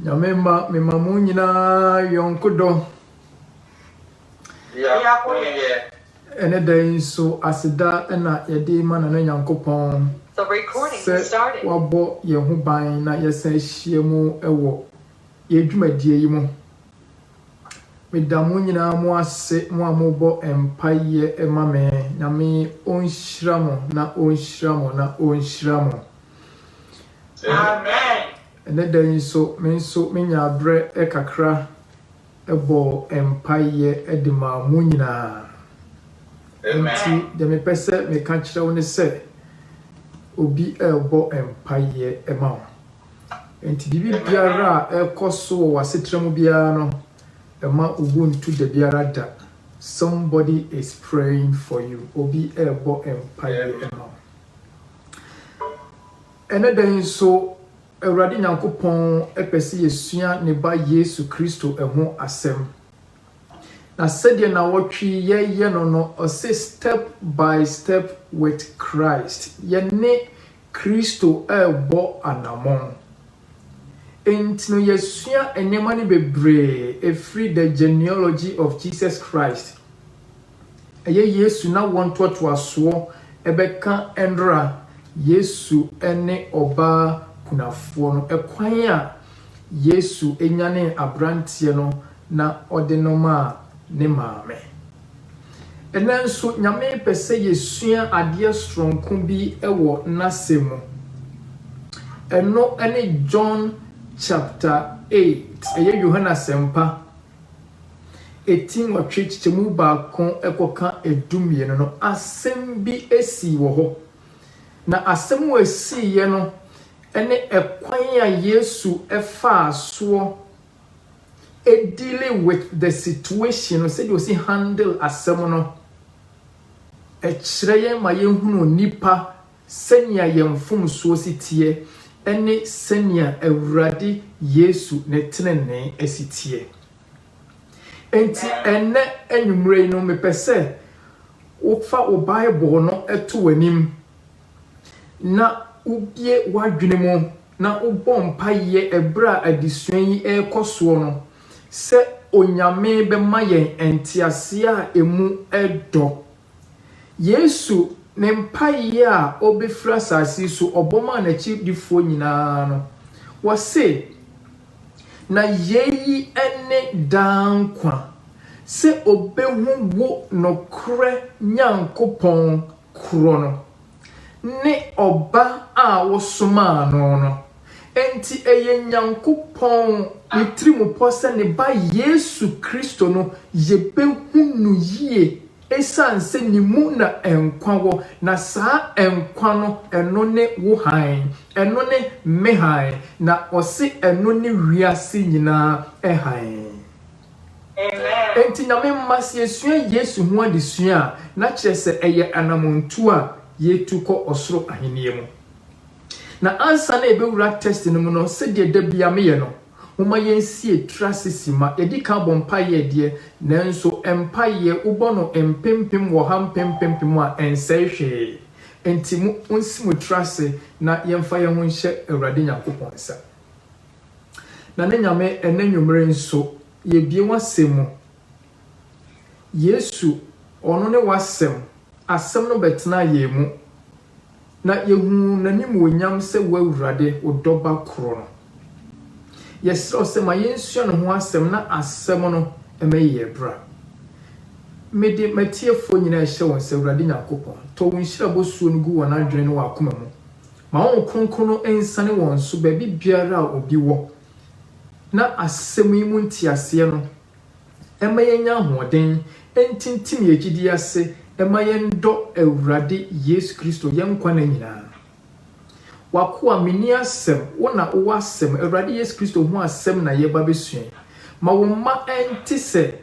Nyame ma me ma mo nyinaa yɔnko dɔ. Biako yɛ. Ɛne da yi nso aseda na yɛde ma Nana Nyankopɔn sɛ wabɔ yɛn ho ban na yɛsan ahyia mu wɔ Yɛ dwumadie yi mu. Meda mo nyinaa mo ase mo a mobɔ mpaeɛ ma me. Nyame ɔnhyira mo na ɔnhyira mo na ɔnhyira mo. Amen. Ɛnɛ da yi nso me nso me nyaa berɛ kakra bɔɔ mpaeɛ de maa mo nyinaa. Nti deɛ me pɛ sɛ me ka kyerɛ wo ne sɛ obi ɛrebɔ mpaeɛ ma wo. Enti biribiara a ɛrekɔ so wɔ w'asetra mu biara no, mma wo bo nntu da biara da. Somebody is praying for you. Obi rebɔ mpaeɛ ma wo. Ɛnnɛ da yi nso, Awurade Nyankopɔn pɛ sɛ yɛsua Ne Ba Yesu Kristo ho asɛm. Na sɛdeɛ nawɔtwe yɛyɛ no no, ɔse step by step with Christ. Yɛne Kristo rebɔ anammɔn. Enti no yɛasua nneɛma no bebree ɛfiri The Genealogy of Jesus Christ, ɛyɛ Yesu n'awoɔ ntoatoasoɔ bɛka nnora Yesu ne ɔbaa kunafoɔ no, ɛkwan a Yesu nyanee aberanteɛ no na ɔde no maa ne maame. Ɛnnɛ nso, Nyame pɛ sɛ yɛsua adeɛ soronko bi wɔ N'asɛm mu. Ɛno ne John chapter eight, ɛyɛ Yohane Asɛmpa, ɛti nwɔtwe kyekyɛmu baako kɔka du mmienu no, asɛm bi sii wɔ hɔ. Na asɛm a ɛsiiɛ no ne ɛkwan a Yesu faa soɔ dealing with the situation no sɛdeɛ ɔsi handle asɛm no ɛkyerɛ yɛn ma yɛhunu nipa sɛnea yɛn mfomsoɔ si teɛ ɛne sɛnea Awurade Yesu ne tenenee ɛsi teɛ. Enti ɛnɛ anwummerɛ yi no mepɛ sɛ wofa wo Bible no ɛto w'anim. na wobue w'adwene mu na wobɔ mpaeɛ berɛ a adesua yi rekɔ soɔ no sɛ Onyame bɛma yɛn nteaseɛ a ɛmu dɔ. Yesu ne mpaeɛ a ɔbɛfiri asase yi so ɔbɔ maa n'akyiridifoɔ nyinaa no, ɔse, Na yei ne daa nkwa, sɛ ɔbɛhu wo nokorɛ Nyankopɔn korɔ no ne Ɔba a wosomaa no no. Enti ɛyɛ Nyankopɔn ne tirimupɔ sɛ ne Ba Yesu Kristo no, yebehu no yie esiane sɛ ne mu na nkwa wɔ, na saa nkwa no, ɛno ne wo hann, ɛno ne me hann, na ɔse ɛno ne wiase nyinaa hann. Enti Nyame mma, sɛ yɛsua Yesu ho adesua a, na kyerɛ sɛ ɛyɛ anamɔntuo a yɛretu kɔ ɔsoro ahennie mu. Na ansa na yɛbɛwura tɛst no mu no, sɛdeɛ da biara meyɛ no, momma yɛnsie tiri ase simma. Yɛdi kan bɔ mpaeɛ deɛ, nanso mpaeɛ, wobɔ no mpempem wɔ ha, mpempempem a, ɛnsɛe hwee. Enti monsi mo tiri ase na yɛmfa yɛn ho nhyɛ Awurade Nyankopɔn nsa. Na ne Nyame ɛnɛ nwummere nso yɛbue w'asɛm mu Yesu ɔno ne w'asɛm Asɛm no bɛtenaa yɛn mu Na yɛhuu n'animuonyam sɛ w'Awurade Wo Dɔba koro no Yɛsrɛ wo sɛ ma yɛnsua ne ho asɛm Na asɛm no ɛmɛyɛ yɛn bra Mede m'atiefoɔ nyinaa ɛhyɛ wo nsa Awurade Nyankopɔn tɔ wo nhyira bosuo no gu wɔn adwene ne wɔn akoma mu Ma Honhom Kronkron no nsiane wɔn so baabi biara a obi wɔ, na asɛm yi mu nteaseɛ no mma yɛnnya ahoɔden ntintim yɛn gyidie ase mma yɛndɔ Awurade Yesu Kristo yɛn nkwa nna nyinaa. W'akoa, menni asɛm, wo na wowɔ asɛm, Awurade Yesu Kristo ho asɛm na yɛreba abɛsua yi. Ma wo mma ɛnte sɛ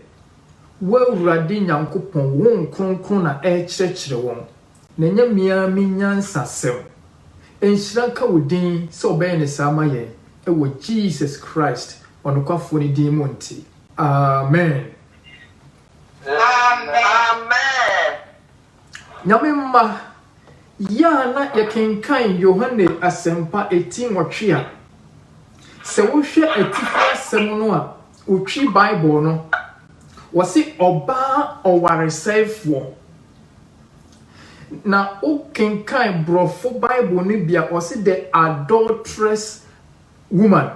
w'Awurade Nyankopɔn, wo Honhom Kronkron na ɛrekyerɛkyerɛ wɔn. Na ɛnyɛ me ara me nyansasɛm. Nhyira nka wo din sɛ wobɛyɛ no saa ama yɛn, wɔ Jesus Christ ɔnokwafoɔ no din mu nti, amen. Amen. Nyame mma, yɛ a na yɛkenkan Yohane Asɛmpa eti nwɔtwe a, sɛ wohwɛ atifi asɛm no a wotwi Bible no, wɔse ɔbaa ɔwaresɛefoɔ Na wo kenkan brɔfo bible no bi a ɔse the adulterous woman,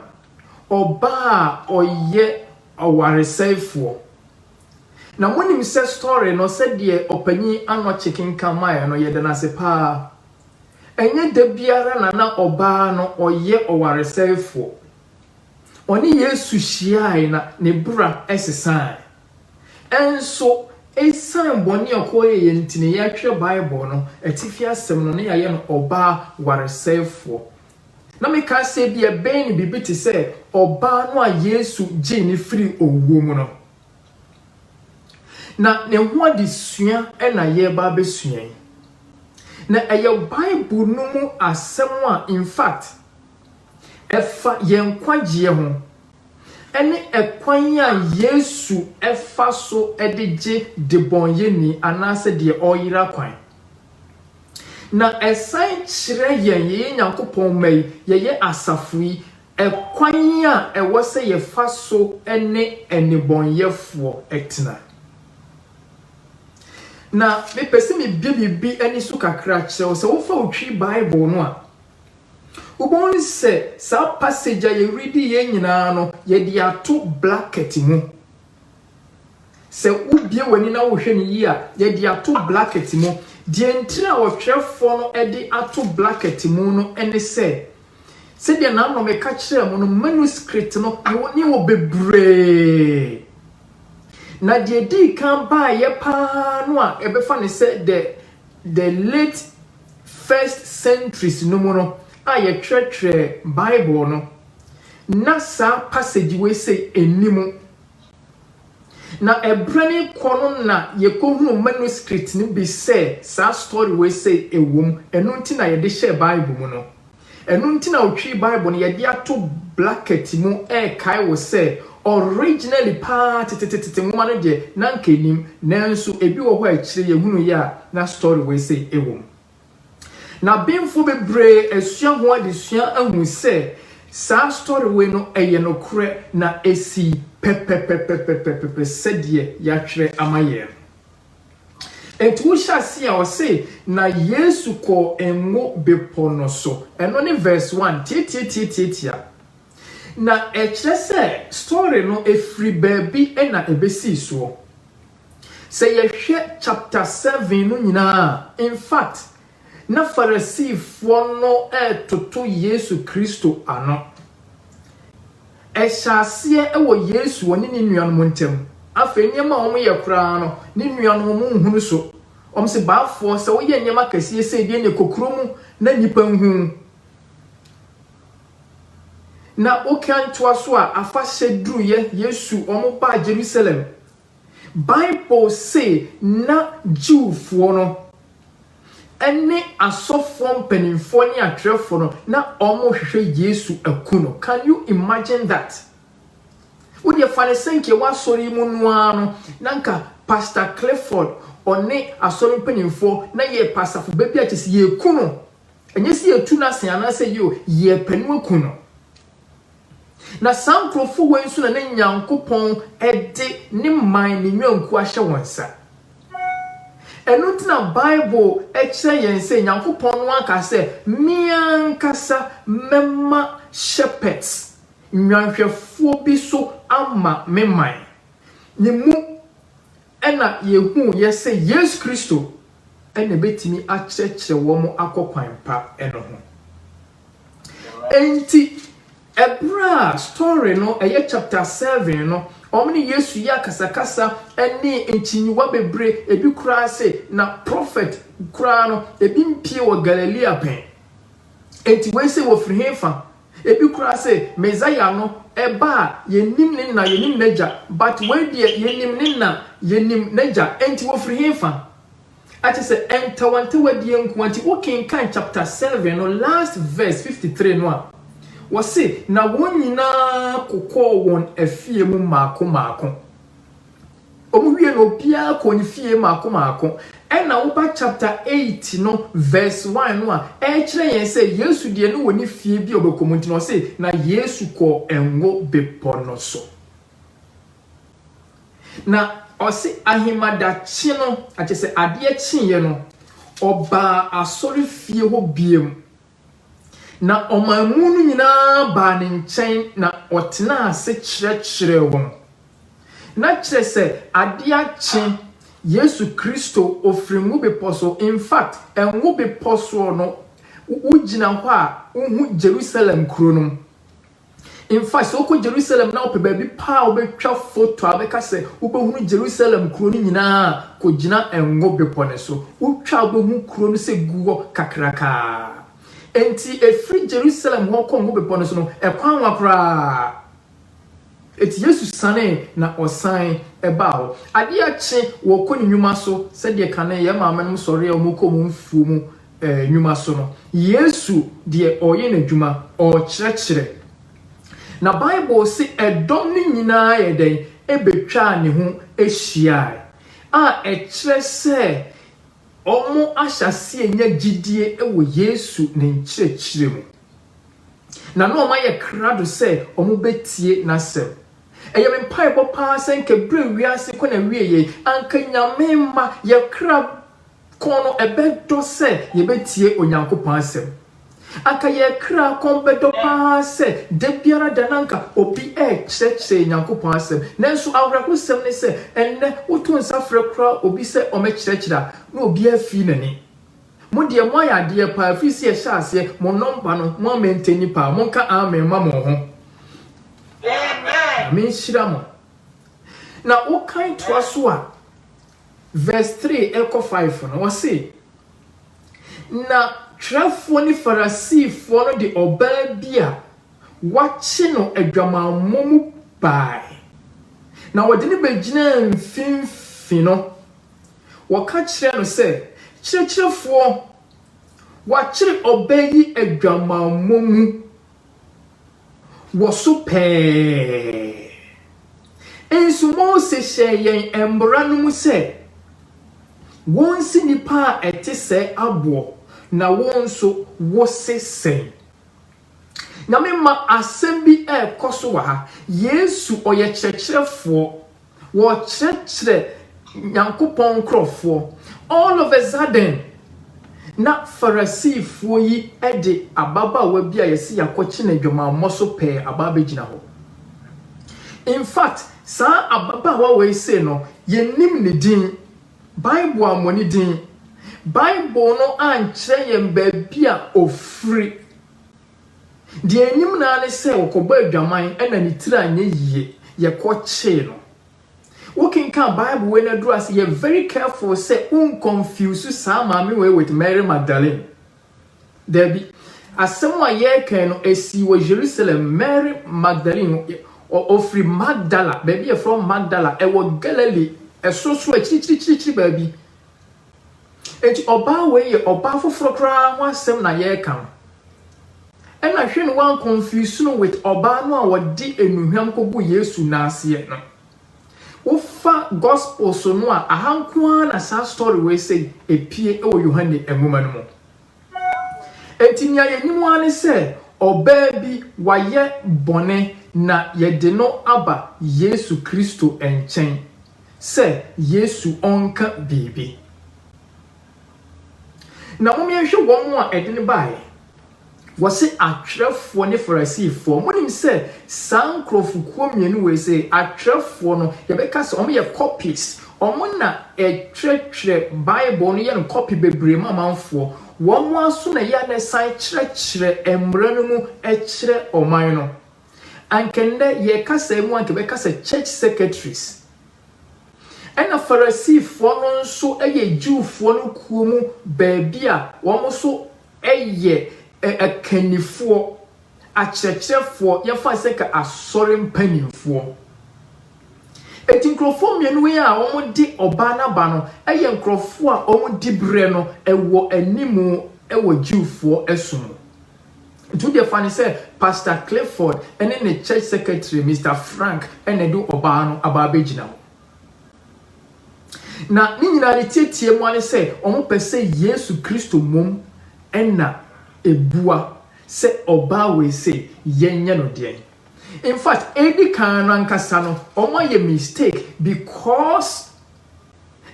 ɔbaa a ɔyɛ ɔwaresɛefoɔ. Na mo nim sɛ story no sɛdeɛ ɔpanyin Anokye kenkan maɛ no yɛda no ase paa. Ɛnyɛ da biara na na ɔbaa no ɔyɛ ɔwaresɛefoɔ. Ɔne Yesu hyiae na ne bra sesae. Nanso, esiane bɔne a Yakobo yɛeɛ nti na yɛhwɛ Bible no atifi asɛm no na yɛayɛ no ɔbaa waresɛefoɔ. Na mekae sɛ ebia ɛbɛyɛ no biribi te sɛ ɔbaa no a Yesu gyee no firii owuo mu no. Na ne ho adesua na yɛreba abɛsua yi. Na ɛyɛ Bible no mu asɛm a in fact ɛfa yɛn nkwagyeɛ ho. ne ɛkwan a Yesu fa so de gye debɔneyɛni anaasɛ deɛ ɔreyera kwan. Na ɛsan kyerɛ yɛn, yɛyɛ Nyankopɔn mma yi, yɛyɛ asafo yi, ɛkwan a ɛwɔ sɛ yɛfa so ne nnebɔneyɛfoɔ tena. Na mepɛ sɛ mebue biribi ani so kakra kyerɛ wo. Sɛ wofa wo twi Bible no a, Wobɛhu sɛ saa passage a yɛredi yei nyinaa no, yɛde ato bracket mu. Sɛ wobue w'ani na wohwɛ no yie a, yɛde ato bracket mu. Deɛ nti a ɔtwerɛfoɔ no de ato bracket mu no ne sɛ, sɛdeɛ n'anome ka kyerɛɛ mo no, manuscript no ne wɔ bebree. Na deɛ ɛdii kan baeɛ paa no a yɛbɛfa no sɛ the the late first centuries no mu no a yɛtwerɛtwerɛɛ Bible no, na saa passage wei sei nni mu. Na ɛberɛ no rekɔ no na yɛkɔhunuu manuscript no bi sɛ saa story wei sei wɔ mu, ɛno nti na yɛde hyɛɛ Bible mu no. Ɛno nti na ɔtwiri Bible no yɛde ato blakɛt mu rekae wo sɛ originally paa tetetetete nwoma no deɛ na anka ɛnim nanso ɛbi wɔ hɔ a akyire yɛhunuuɛ a na story wei sei wɔ mu. Na Benfoɔ bebree asua ho adesua ahu sɛ saa story wei no ɛyɛ nokorɛ na ɛsii pɛpɛpɛpɛpɛpɛpɛ sɛdeɛ yɛatwerɛ ama yɛn no. Enti wohyɛ aseɛ a ɔse, na Yesu kɔɔ Ngo Bepɔ no so. Ɛno ne verse one, tiatiatiatiatia. Na ɛkyerɛ sɛ story no ɛfiri baabi na ɛbɛsii soɔ. Sɛ yɛhwɛ chapter seven no nyinaa a, infact na Farisifoɔ no retoto Yesu Kristo ano. Ɛhyɛ aseɛ wɔ Yesu wɔ ne ne nuanom ntam. Afei nneɛma a wɔyɛ koraa no, ne nuanom no nhunu so. Wɔse, Baafoɔ, sɛ woyɛ nneɛma kɛseɛ sei deɛ neɛ kɔ kuro mu na nnipa nhu wo. Na wokan toa so a, afahyɛ duruiɛ, Yesu, wɔbaa Jerusalem, Bible se na Jewfoɔ no ne asɔfoɔ mpaninfoɔ ne atwerɛfoɔ no na wɔrehwehwɛ Yesu aku no. Can you imagine that? Wo deɛ fa no sɛ nka yɛwɔ asɔre yi mu no ara no na nka Pastor Clifford ɔne asɔre mpaninfoɔ na yɛrepɛ asafo ba bi a kyerɛ sɛ yɛreku no. Ɛnyɛ sɛ yɛretu no ase anaasɛ yio, yɛrepɛ no aku no. Na saa nkurɔfoɔ wei nso na na Nyankopɔn de ne man, ne nnwankuo ahyɛ wɔn nsa. Ɛno nti na Bible kyerɛ yɛn sɛ Nyankopɔn no ara kaa sɛ, Me ankasa mɛma shepherds, nnwanhwɛfoɔ bi so ama me man. Ne mu na yɛhuuiɛ sɛ Yesu Kristo na ɛbɛtumi akyerɛkyerɛ wɔn akɔ kwan pa no ho. Enti ɛberɛ a story no ɛyɛ chapter seven no wɔn ne Yesu yɛ akasakasa ɛne nkyinyiwa bebree ebi koraa se na prophet koraa no ebi mpie wɔ Galilea pɛn enti wei se wɔfiri he fa ebi koraa se Messiah no ɛba a yɛnim ne na yɛnim n'agya but wei deɛ yɛnim ne na yɛnim n'agya enti wɔfiri he fa Kyerɛ sɛ ɛntawantawadiɛ nko ara nti wo kenkan chapter seven no last verse fifty three no a wɔse na wɔn nyinaa kokɔɔ wɔn afie mu maako maako wɔn wie no obiara kɔɔ ne fie maako maako ɛna woba chapter eight no verse one no a ɛkyerɛ yɛn sɛ Yesu deɛ no wɔ ne fie bi a ɔbɛkɔ mu nti na ɔse na Yesu kɔɔ ngo bepɔ no so. Na ɔse ahemadakye no, akyɛsɛ adeɛ kyeeɛ no, ɔbaa asɔrefie hɔ biom, na ɔmanmu no nyinaa baa ne nkyɛn na ɔtenaa ase kyerɛkyerɛɛ wɔn. Na kyerɛ sɛ adeɛ akye Yesu Kristo, ɔfiri Ngo Bepɔ so, in fact, Ngo Bepɔ soɔ no, wogyina hɔ a, wohu Jerusalem kuro no. In fact, sɛ wokɔ Jerusalem na wopɛ baabi pa a wobɛtwa foto a wobɛka sɛ wobɛhunu Jerusalem kuro no nyinaa a, kɔgyina Ngo Bepɔ no so. Wotwa a wobɛhu kuro no sɛ gu hɔ kakraka ara. Enti ɛfiri Jerusalem hɔ kɔ Ngo Bepɔ no so no, ɛkwan nwa koraa. Enti Yesu sanee na ɔsan baa hɔ. Adeɛ kye, wɔrekɔ ne nnwuma so, sɛdeɛ kane yɛn maamenom sɔreɛ a wɔkɔ wɔn mfuo mu nnwuma so no, Yesu deɛ ɔreyɛ n'adwuma, ɔrekyerɛkyerɛ. Na Bible se ɛdɔm no nyinaa yɛ dɛn? Ɛbɛtwaa ne ho hyiaae, a ɛkyerɛ sɛ wɔahyɛ aseɛ anya gyidie wɔ Yesu ne nkyerɛkyerɛ mu. Na na wɔayɛ krado sɛ wɔbɛtie n'asɛm. Ɛyɛ me mpaebɔ paa sɛ anka berɛ a wiase kɔ n'awieɛ yi, anka Nyame mma yɛn kra Kɔn no bɛdɔ sɛ yɛbɛtie Onyankopɔn asɛm. Anka yɛn kra kɔn bɛdɔ pa ara sɛ da biara da na anka obi rekyerɛkyerɛ yɛn Nyankopɔn asɛm. Nanso awerɛhosɛm ne sɛ, ɛnnɛ woto nsa frɛ koraa obi sɛ ɔmmɛkyerɛkyerɛ a, na obiara fii n'ani. Mo deɛ moayɛ adeɛ pa ara firi sɛ yɛhyɛɛ aseɛ, mo nɔmba no mo amɛntɛnni pa ara. Monka amen ma mo ho. Nyame nhyira mo. Na wokan toa so a, Verse three rekɔ five no, ɔse, Na twerɛfoɔ ne Farisifoɔ no de ɔbaa bi a wɔakye no adwamammɔ mu baae, na wɔde no bɛgyinaa mfimfini no, wɔka kyerɛɛ no sɛ, Kyerɛkyerɛfoɔ, wɔakyere ɔbaa yi adwamammɔ mu, wɔ so pɛɛ. Nso Mose hyɛɛ yɛn mmara no mu sɛ, Wonsi nnipa a ɛte sɛɛ aboɔ, na wo nso wose sɛn? Nyame mma, asɛm bi rekɔ so wɔ ha. Yesu, ɔyɛ kyerɛkyerɛfoɔ. wɔrekyerɛkyerɛ Nyankopɔn nkorɔfoɔ, all of a sudden, na Farisifoɔ yi de ababaawa bi a yɛse yɛakɔkye no adwamammɔ so pɛɛ aba abɛgyina hɔ. In fact, saa ababaawa wei sei no, yɛnnim ne din, Bible ammɔ ne din, Bible no ankyerɛ yɛn baabi a ɔfiri. Deɛ ɛnim no ara ne sɛ ɔkɔbɔɔ adwaman na ne tiri anyɛ yie, yɛkɔkyee no. Wokenkan Bible wei na aduru ase, yɛ very careful sɛ wonkɔnfuse saa maame wei with Mary Magdalene. Daabi. Asɛm a yɛreka yi no, ɛsii wɔ Jerusalem. Mary Magdalene, ɔ- ɔfiri Magdala, baabi a ɛfrɛ hɔ Magdala, ɛwɔ Galilee, ɛsorosoro akyirikyirikyirikyiri baabi. Enti ɔbaa wei yɛ ɔbaa foforɔ koraa ho asɛm na yɛreka no. Ɛna hwɛ no woanconfuse no with ɔbaa no a ɔde nnuhwam kɔguu Yesu nan aseɛ no. Wofa Gospels no a aha nko ara na saa story wei sei ɛpue wɔ Yohane nwoma no mu. Enti nea yɛnim ara ne sɛ ɔbaa bi wayɛ bɔne na yɛde no aba Yesu Kristo nkyɛn. sɛ Yesu ɔnka biribi. Na momeɛnhwɛ wɔn a ɛde no baeɛ. Wɔse atwerɛfoɔ ne Farisifoɔ. Monim sɛ saa nkurɔfokuo mmienu wei se, atwerɛfoɔ no, yɛbɛka sɛ wɔyɛ copies. Wɔn na ɛtwerɛtwerɛ Bible no yɛ no copy bebree ma amanfoɔ. Wɔn ara nso na ɛyɛ a na ɛsan kyerɛkyerɛ mmara no mu kyerɛ ɔman no. anka nnɛ yɛn kasae mu anka bɛka sɛ church secretaries. Ɛna Farisifoɔ no nso yɛ Jewfoɔ no kuo mu baabi a wɔn nso yɛ akannifoɔ, akyerɛkyerɛfoɔ, yɛmfa no sɛ ka asɔre mpanimfoɔ. Eti nkurɔfoɔ mmienu wei a wɔde ɔbaa no aba no yɛ nkurɔfoɔ a wɔn diberɛ no wɔ anim wɔ Jewfoɔ som mu. To deɛ fa no sɛ Pastor Clifford ne ne church secretary Mister Frank na ɛde ɔbaa no aba abɛgyina hɔ. Na ne nyinaa ne tietie mu ara sɛ wɔpɛ sɛ Yesu Kristo mmom na ɛbua sɛ ɔbaa wei sei yɛnyɛ no deɛn. In fact, ɛdi kan no ankasa no wɔayɛ mistake because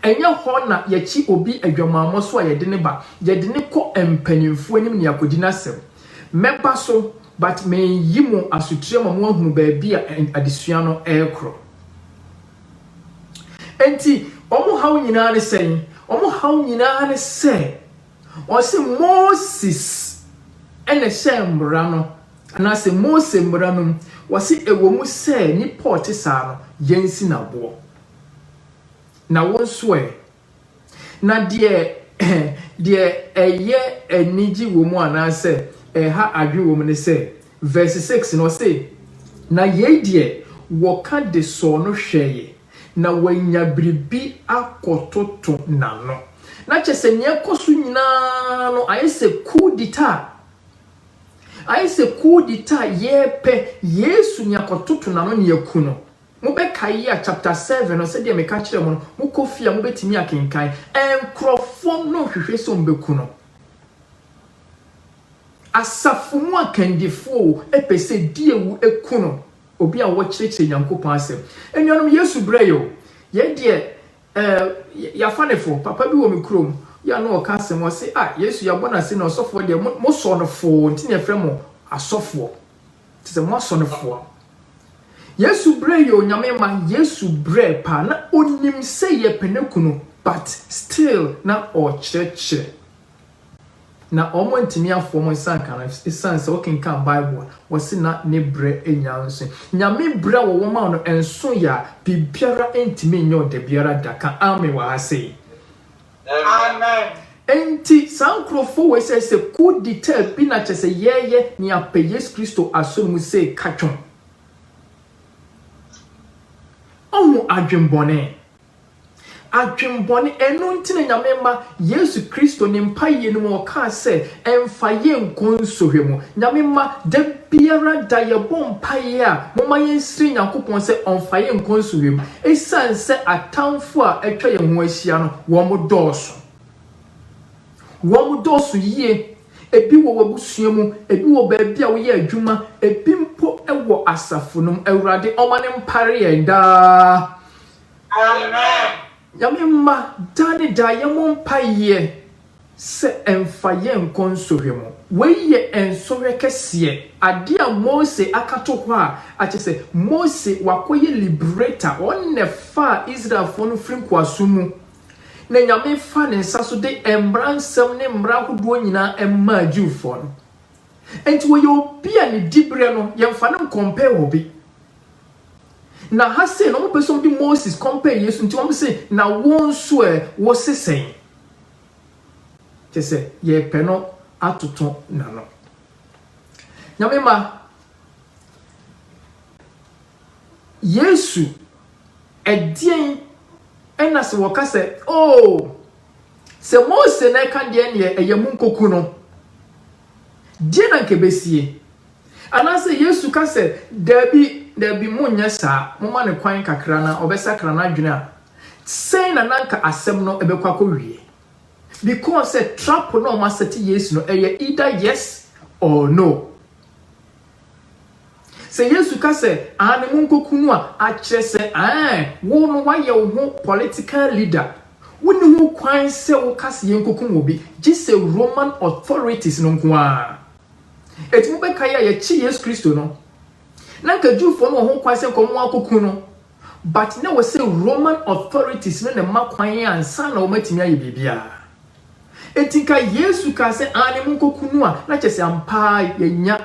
Ɛnyɛ hɔ na yɛkye obi adwamammɔ so a yɛde no ba, yɛde no kɔ mpanyimfo anim na yɛakodi n'asɛm. Mɛba so, but mereyi mo asotire ama moahunu baabi a adesua no rekɔ. Enti wɔn haw nyinaa ne sɛn? Wɔn haw nyinaa ne sɛ, wɔse Moses na ɛhyɛɛ mmara no, anaasɛ Mose mmara no mu, wɔse ɛwɔ mu sɛ nnipa a ɔte saa no, yɛnsi no aboɔ. Na wo nso ɛ? Na deɛ deɛ ɛyɛ anigye wɔ mu anaasɛ ɛha adwene wɔ mu ne sɛ, verse six no, ɔse, Na yei deɛ wɔka de sɔɔ no hwɛeɛ, na wɔanya biribi akɔtoto n'ano. Na kyerɛ sɛ nea ɛkɔ so nyina ara no, ayɛ sɛ coup d'etat, ayɛ sɛ coup d'etat, yɛrepɛ Yesu ne yɛakɔtoto n'ano ne yɛaku no. Mobɛkae yi a chapter seven no sɛdeɛ meka kyerɛɛ mo no, mokɔ fie a mobɛtumi akenkan. Nkurɔfoɔ no rehwehwɛ sɛ wɔbɛku no. Asafo mu akandifoɔ o, pɛ sɛ di awu ku no, obi a ɔkyerɛkyerɛ Nyankopɔn asɛm. Anuanom, Yesu brɛ yɛ o. Yɛn deɛ, eh, yɛafa no fo. Papa bi wɔ me kurom, yɛ a na ɔka asɛm, ɔse, ah, Yesu yɛabɔ no ase na ɔsɔfoɔ deɛ, mo, mosɔ no foo, nti na yɛfrɛ mo asɔfoɔ. Te sɛ mo asɔrefoɔ. Yesu brɛ yɛ onyame mma Yesu brɛ paa na onim sɛ yɛ pɛ ne kunu but still na ɔkyerɛkyerɛ na ɔmo ntumi afoɔ mo nsa nka no esan sɛ wokenkan bible no wɔse na ne brɛ nya nso nyame brɛ a wɔwɔ ma no nso yɛ a biribiara ntumi nyɛ wo dabiara da ka amen wɔ ha sei Amen. Enti saa nkurɔfoɔ wei sɛ sɛ coup d'etat bi na kyɛ sɛ yɛɛyɛ ne apɛ Yesu Kristo asɔre mu sei ka twom. Ɔho adwenbɔne. Adwenbɔne ɛno nti na Nyame ma Yesu Kristo ne mpaeɛ no mu ɔkaa sɛ Ɛmfa yɛn nkɔ nsɔhwɛ mu. Nyame mma, da biara da yɛbɔ mpaeɛ a, momma yɛnsrɛ Nyankopɔn sɛ ɔmfa yɛn nkɔ nsɔhwɛ mu. Ɛsiane sɛ atamfo a atwa yɛn ho ahyia no, wɔdɔɔso. Wɔdɔɔso yie. Ebi wɔ w'abusua mu, ebi wɔ baabi a woyɛ adwuma, ebi mpo wɔ asafo no mu. Awurade, ɔma no mpare yɛn daa. Amen. Nyame mma, daa ne daa yɛmmɔ mpaeɛ sɛ ɛmfa yɛn nkɔ nsɔhwɛ mu. Wei yɛ nsɔhwɛ kɛseɛ, adeɛ a Mose aka to hɔ a akyerɛ sɛ Mose wakɔyɛ liberator, ɔno na ɛfaa Israelfoɔ no firi nkoasom mu, na Nyame faa ne nsa so de mmara nsɛm ne mmara ahodoɔ nyinaa maa Jewfoɔ no. Enti ɔyɛ obi a ne diberɛ no yɛmfa no nkɔmpɛɛ obi. Na ha sei no wɔpɛ sɛ wɔde Moses kɔmpɛɛ Yesu nti wɔse na wo nso ɛ wose sɛn? Kyerɛ sɛ, yɛrepɛ no atoto n'ano. Nyame mma, Yesu, ɛdeɛn na sɛ wɔka sɛ, Oo, sɛ Mose na ɛka deɛ neɛ ɛyɛ monkoku no, deɛ na nka ɛbɛsie? Anaasɛ Yesu ka sɛ, Dabi, dabi, monnyɛ saa, momma no kwan kakra na ɔbɛsakra n'adwene a, sɛn na na anka asɛm no bɛkɔ akɔwie? Because sɛ trap no a wɔasɛte Yesu no, ɛyɛ either yes or no. Sɛ Yesu ka sɛ, Aane, monkɔku no a, akyerɛ sɛ, ɛɛ, wo no woayɛ wo ho political leader. Wonni ho kwan sɛ woka sɛ yɛnkɔkum obi, gye sɛ Roman authorities no nko ara. Enti mobɛkae a yɛkye Yesu Kristo no, na anka Jewfoɔ no wɔ ho kwan sɛ nka wɔn akɔku no, but na ɛwɔ sɛ Roman authorities no na ɛma kwan ansa na wɔatumi ayɛ biribiara. Enti nka Yesu kaa sɛ aane monkɔku no a, na kyerɛ sɛ ampa ara yɛanya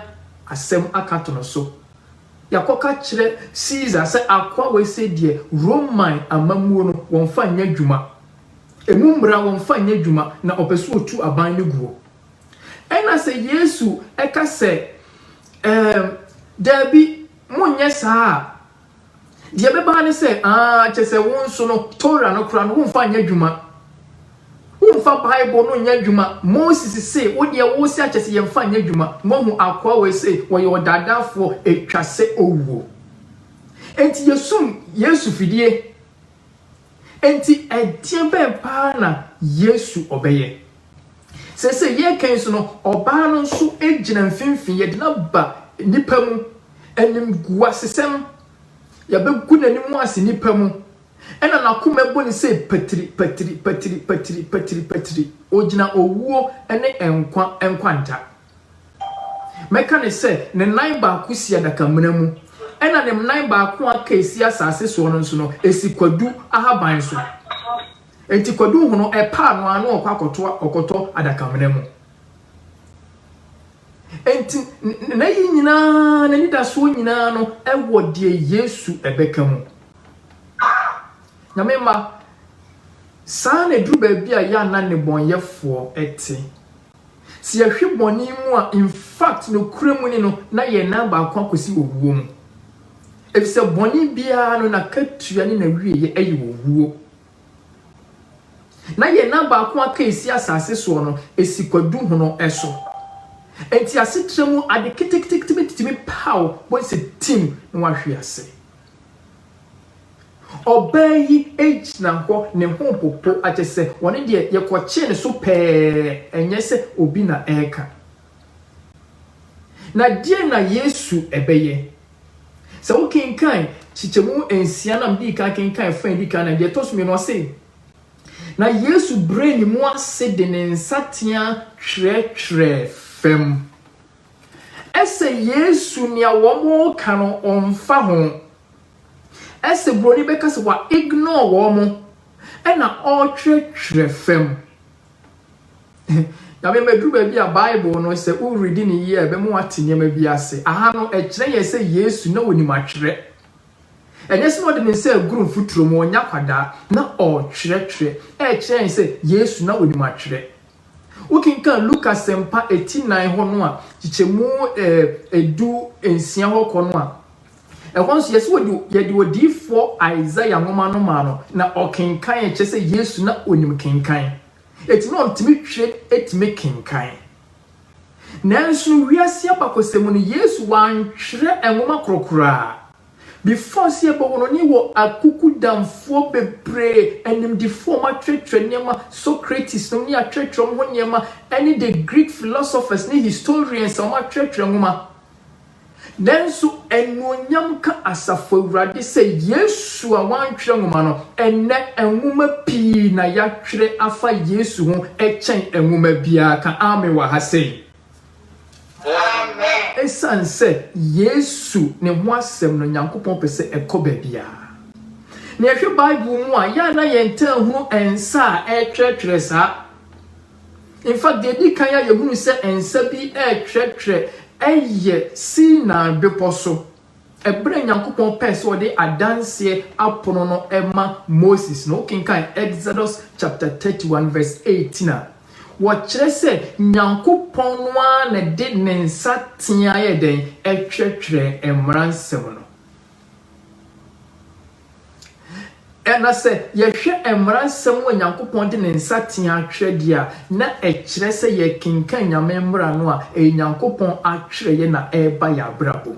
asɛm aka ato no so. Yɛakɔka kyerɛ Caesar sɛ akoa wei sɛ deɛ Roman amammuo no wɔmfa nyɛ adwuma, ɛmu mmara wɔmfa nyɛ adwuma, na ɔpɛ sɛ ɔtu aban no guo. Ɛna sɛ Yesu ka sɛ, Ɛɛm, daabi, monnyɛ saa a, deɛ ɛbɛba ara ne sɛ, aah, kyerɛ sɛ wo nso no, Tora no koraa no, womfa nyɛ adwuma. Womfa Bible no nyɛ adwuma. Moses se, wo deɛ wose akyɛ sɛ yɛmfa nyɛ adwuma. Moahu akoa wei se, wɔyɛ ɔdaadaafoɔ, ɛtwa sɛ owuo. Enti yɛsum Yesu fidie. Enti ɛdeɛ bɛn paa na Yesu ɔbɛyɛ? Seesei yɛreka yi so no, ɔbaa no nso gyina mfimfini. Yɛde no aba nnipa mu. Animguasesɛm, yɛbɛgu n'anim ase nnipa mu. Ɛna n'akoma bɔ ne sɛ patiri, patiri, patiri, patiri, patiri, patiri. Ɔgyina owuo ne nkwa nkwanta. Mɛka no sɛ ne nan baako si adakamena mu, ɛna ne nan baako a aka esi asase soɔ no nso no, esi kwadu ahaban so. Enti Kwadu hu no ɛpɛ a no ara na ɔkɔ akɔtoa ɔkɔtɔ adakamena mu. Enti n'ayi nyinaa, n'anidasoɔ nyinaa no wɔ deɛ Yesu bɛka mu. Ah! Nyame mma, saa na ɛduru baabi a yɛ a na nnebɔnyɛfoɔ te. Sɛ yɛhwe bɔne mu a, in fact nokorɛ mu ni no, na yɛn nan baako akɔsi owuo mu. Ɛfisɛ bɔne biara no n'akatua ne n'awieɛ yɛ owuo. Na yɛn nan baako a aka a esi asase soɔ no, esi kwadu hono so. Enti asetra mu ade ketekete bi tumi pa wo, wobɛhu sɛ tim na wahwe ase. Ɔbaa yi gyina hɔ, ne ho repopo, akyerɛ sɛ ɔno deɛ yɛkɔkyee ne so pɛɛ, ɛnyɛ sɛ obi na ɛreka. Na deɛn na Yesu bɛyɛ? Sɛ wokenkan kyekyɛmu nsia no a midii kan kenkan fã a edi kan no a, nea ɛtɔ so mmienu ɔse, Na Yesu brɛɛ ne mu ase de ne nsateaa twerɛtwerɛɛ fam. Ɛsɛ Yesu nea wɔreka no ɔmfa ho. Ɛsɛ buroni bɛka sɛ wa ignore wɔn ɛna ɔretwerɛtwerɛ fam. Nyame mma ɛduru baabi a Bible no sɛ wo read ne yie a ɛbɛma woate nneɛma bi ase. Aha no ɛkyerɛ yɛn sɛ Yesu na ɔnim atwerɛ. Ɛnyɛ sɛ na ɔde ne nsa aguru mfuturo mu, ɔnyɛ akwadaa, na ɔretwerɛtwerɛ. Ɛrekyerɛ yɛn sɛ Yesu na ɔnim atwerɛ. Wokenkan Luka asɛmpa ɛti nan hɔ no a, kyekyɛmu ɛɛ ɛdu nsia hɔ kɔ no a, Ɛhɔ nso, yɛse wɔde yɛde odiyifoɔ Isaiah nwoma no maa no na ɔkenkan ɛ, kyerɛ sɛ Yesu na ɔnim kenkan, enti na ɔntumi twerɛ tumi kenkan. Nanso no wiase abakɔsɛm mu no, Yesu wantwerɛ nwoma korɔ koraa. Before sɛ yɛbɛwo no, ne wɔ akukudamfoɔ bebree, animdifoɔ a wɔatwerɛtwerɛ nneɛma, Socrates nom ne yɛatwerɛtwerɛ wɔn ho nneɛma, ɛne the Greek philosophers ne historians a wɔatwerɛtwerɛ nwoma. Nanso, anuonyam nka Asafo Awurade sɛ Yesu a wɔantwerɛ nwoma no, ɛnnɛ nwoma pii na yɛatwerɛ afa Yesu ho kyɛn nwoma biara. Ka Amen wɔ ha sei. Amen. Esiane sɛ Yesu ne ho asɛm no Nyankopɔn pɛ sɛ ɛkɔ baabiara na yɛhwɛ Bible mu a, yɛ a na yɛntaa hunu nsa a ɛretwerɛtwerɛ saa. In fact, deɛ ɛdi kan a yɛhunu sɛ nsa bi retwerɛtwerɛ yɛ Sinai Bepɔ so, ɛberɛ a Nyankopɔn pɛɛ sɛ ɔde adanseɛ apono no ma Moses no. Wokenkan Exodus chapter 31 verse 18 a, wɔkyerɛ sɛ Nyankopɔn no ara na ɛde ne nsa teaa yɛ dɛn? Ɛtwerɛtwerɛɛ mmaransɛm no. Na sɛ yɛhwɛ Mmara nsɛm a Onyankopɔn de ne nsateaa twerɛ deɛ a, na ɛkyerɛ sɛ yɛrekenkan Nyame mmara no a, ɛyɛ Nyankopɔn atwerɛeɛ na ɛreba yɛn abrabɔ mu.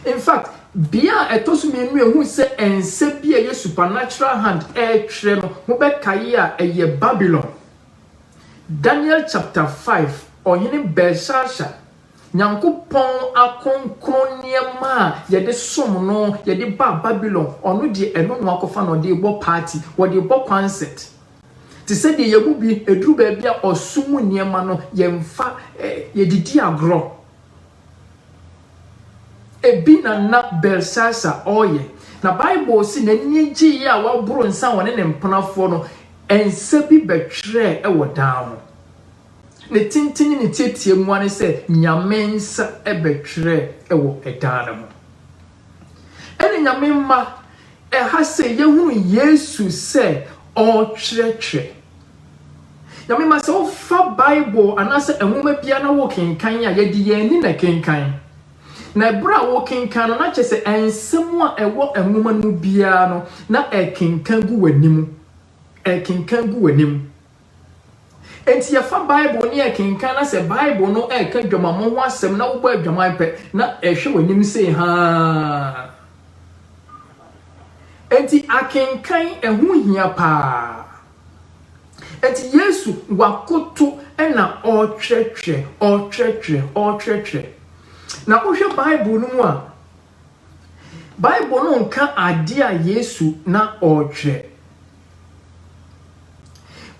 In fact, bea a ɛtɔ so mmienu a yɛhu sɛ nsa bi a ɛyɛ supernatural hand retwerɛ no, mobɛkae a, ɛyɛ Babylon. Daniel chapter five, Ɔhene Belshazzar, Nyankopɔn akronkron nneɛma a yɛde som no, yɛde ba Babylon, ɔno deɛ ɛno na wakɔfa na ɔde rebɔ party, ɔde rebɔ kwansɛt. Te sɛ deɛ yɛn mu bi, ɛduru baabi a ɔsom mu nneɛma no, yɛmfa, yɛde di agorɔ. Ebi na na Belsasar ɔreyɛ. Na Bible se n'ani gyeeɛ a waboro nsa a ɔne ne mpenafoɔ no nsa bi bɛtwerɛɛ wɔ dan ho. Ne tenten ne ne teateamu ara ne sɛ Nyame nsa bɛtwerɛ wɔ dan no ho. Ɛne Nyame mma, ɛha sei yɛhunu Yesu sɛ ɔretwerɛtwerɛ. Nyame mma, sɛ wofa Bible anaasɛ nwoma biara na wokenkan a, yɛde yɛn ani na ɛkenkan. Na ɛberɛ a wokenkan no, na kyerɛ sɛ nsɛm a ɛwɔ nwoma no mu biara no, na ɛkenkan gu w'anim. Ɛkenkan gu w'anim. Enti yɛfa Bible ne yɛkenkan na sɛ Bible no reka adwamammɔ ho asɛm na wobɔ adwaman pɛ na ɛhwɛ w'anim sei haa. Enti akenkan ɛho hia paa. Enti Yesu wakoto na ɔrekyerɛkyerɛ, ɔrekyerɛkyerɛ, ɔrekyerɛkyerɛ. Na wohwɛ Bible no mu a, Bible no nka ade a Yesu na ɔretwerɛ.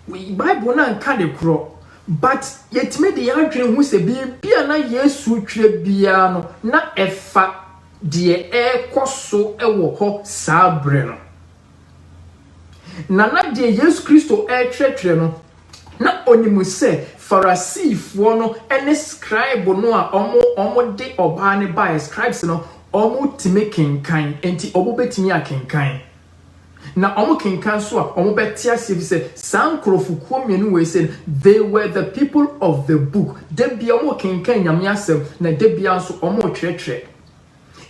Bible no anka de korɔ, but yɛtumi de yɛn adwene hu sɛ biribi a na Yesu retwerɛ biara no, na ɛfa deɛ ɛrekɔ so wɔ hɔ saa berɛ no. Na na deɛ Yesu Kristo rekyerɛkyerɛ no, na ɔnim sɛ Farisifoɔ no ne scribe no a wɔde ɔbaa no baeɛ, scribes no, wɔtumi kenkan, enti wɔbɛtumi akenkan. Na wɔkenkan nso a, wɔbɛte aseɛ bi sɛ saa nkurɔfokuo mmienu wei sɛ they were the people of the book. Da biara wɔkenkan Nyame asɛm, na da biara nso wɔrekyerɛkyerɛ.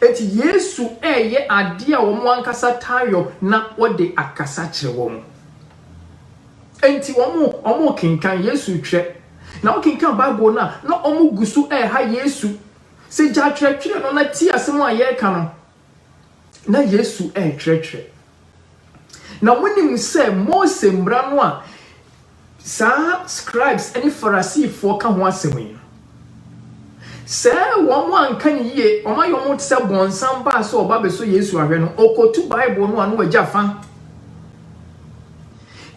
Enti Yesu reyɛ ade a wɔn ankasa taa yɔ na ɔde akasa kyerɛ wɔn. Enti wɔn rekenkan, Yesu retwerɛ. Na wokenkan Bible no a, na wɔgu so reha Yesu sɛ, Gya twerɛtwerɛ no na tie asɛm a yɛreka no. Na Yesu retwerɛtwerɛ. Na wonim sɛ Mose Mmara no a saa scribes ne Farisifoɔ ka ho asɛm yi no, sɛ wɔn anka no yie, wɔn ayɛ wɔn te sɛ bɔnsam baa sɛ ɔba bɛsɔ Yesu ahwɛ no, ɔkɔtu Bible no a na wagya fa.